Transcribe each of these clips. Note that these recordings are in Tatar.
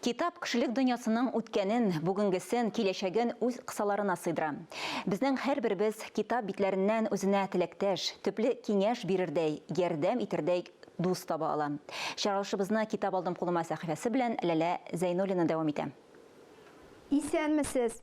Китап кешелек дөньясының үткәнен, бүгенгесен, киләчәген үз кысаларына сыйдыра. Безнең һәрберебез китап битләреннән үзенә теләктәш, төпле киңәш бирердәй, ярдәм итәрдәй дус таба ала. Чыгарылышыбызны Китап алдым кулыма сәхифәсе белән Ләлә Зәйнуллина дәвам итә. Исәнмесез!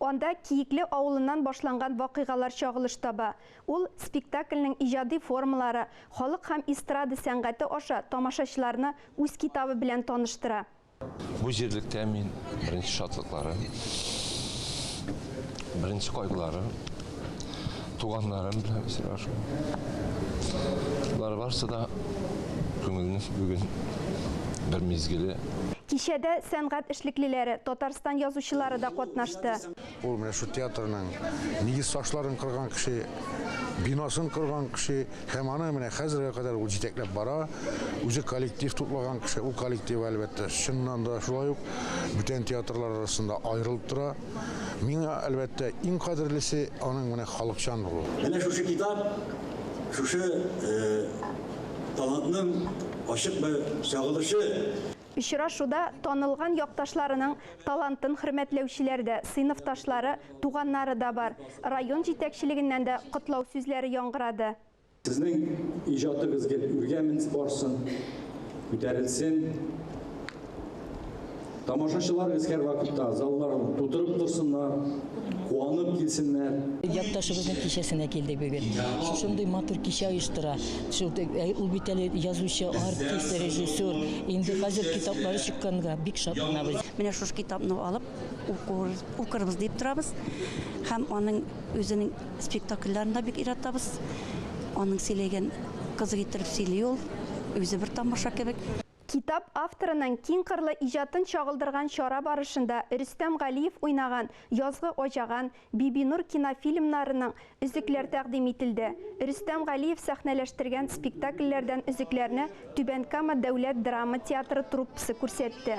Анда Киекле авылыннан башланган вакыйгалар чагылыш таба. Ул спектакльнең иҗади формалары, халык һәм эстрада сәнгате аша тамашачыларны үз китабы белән таныштыра. Бу җирлектә мин беренче шатлыкларым, беренче кайгыларым. Туганнарым белән очрашу. Бар барсы да күңелне бүген бер мизгеле. Кичәдә сәнгать эшлеклеләре, Татарстан язучылары да катнашты. Ул менә шул театрның нигез ташларын кырган кеше, биносын корган кеше һәм аны менә хәзергә кадәр ул җитәкләп бара. Үзе коллектив туплаган кеше, ул коллектив, әлбәттә, чыннан да шулай ук бүтән театрлар арасында аерылып тора. Миңа, әлбәттә, иң кадерлесе аның менә халыкчан булуы. Менә шушы китап, шушы талантның ачык бер чагылышы. Очрашуда танылган якташларының талантын хөрмәтләүчеләр дә, сыйныфташлары, туганнары да бар. Район җитәкчелегеннән дә котлау сүзләре яңгырады. Сезнең иҗатыгыз гел үргә менс барсын, күтәрелсен. Тамашачылар без һәрвакытта залларны тутырып торсыннар, куанып килсеннәр. Якташыбызның кичәсенә килдек бүген. Шушындый матур кичә оештыра. Шул э, ул бит әле язучы, артист, режиссер. Инде хәзер китаплары чыкканга бик шатланабыз. Менә шушы китапны алып укырбыз дип торабыз. Һәм аның үзенең Спектакльләрен дә бик яратабыз. Аның сөйләгән кызык иттереп сөйли ул. Үзе бер тамаша кебек. Китап авторының киңкырлы иҗатын чагылдырган чара барышында Рөстәм Галиев уйнаган Язгы аҗаган, Бибинур кинофильмнарының өзекләр тәкъдим ителде. Рөстәм Галиев сәхнәләштергән спектакльләрдән өзекләрне Түбән Кама дәүләт драма театры труппасы күрсәтте.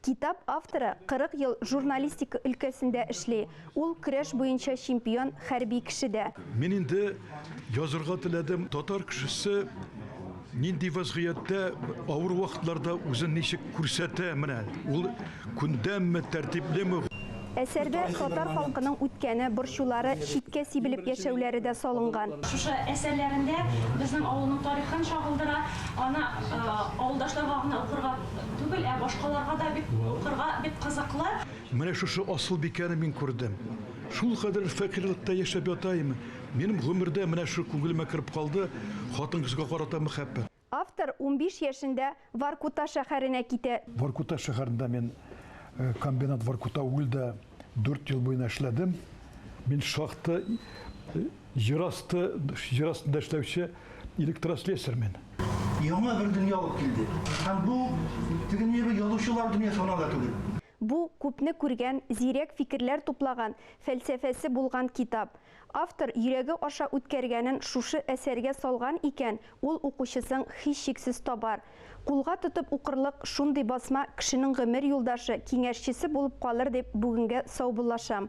Китап авторы 40 ел журналистика өлкәсендә эшли. Ул көрәш буенча чемпион, хәрби кеше дә. Мин инде язырга теләдем. Татар кешесе нинди вәзгыятьтә, авыр вакытларда үзен ничек күрсәтә, менә ул күндәмме, тәртиплеме? Әсәрдә татар халкының үткәне, борчулары, читкә сибелеп яшәүләре дә салынган. Шушы әсәрләрендә безнең авылның тарихын чагылдыра, аны авылдашларга гына укырга түгел, ә башкаларга да бик укырга бик кызыклы. Менә шушы Асылбикәне мин күрдем. Шулкадәр фәкыйрьлектә яшәп ятаем, минем гомердә менә шул күңелемә кереп калды, хатын-кызга карата мәхәббәт. Автор унбиш яшендә Воркута шәһәренә китә. Воркута шәһәрендә мин комбинат Воркута угльда дүрт ел буена эшләдем. Мин шахта җир асты, җир астында эшләүче электрослесарь мин. Яңа бер дөнья алып килде. Һәм бу теге ни язучылар дөньясы гына да түгел. Бу, күпне күргән, зирәк фикерләр туплаган, фәлсәфәсе булган китап. Автор йөрәге аша үткәргәнен шушы әсәргә салган икән, ул укучысың һичшиксез табар. Кулга тотып укырлык шундый басма кешенең гомер юлдашы, киңәшчесе булып калыр дип бүгенгә саубуллашам.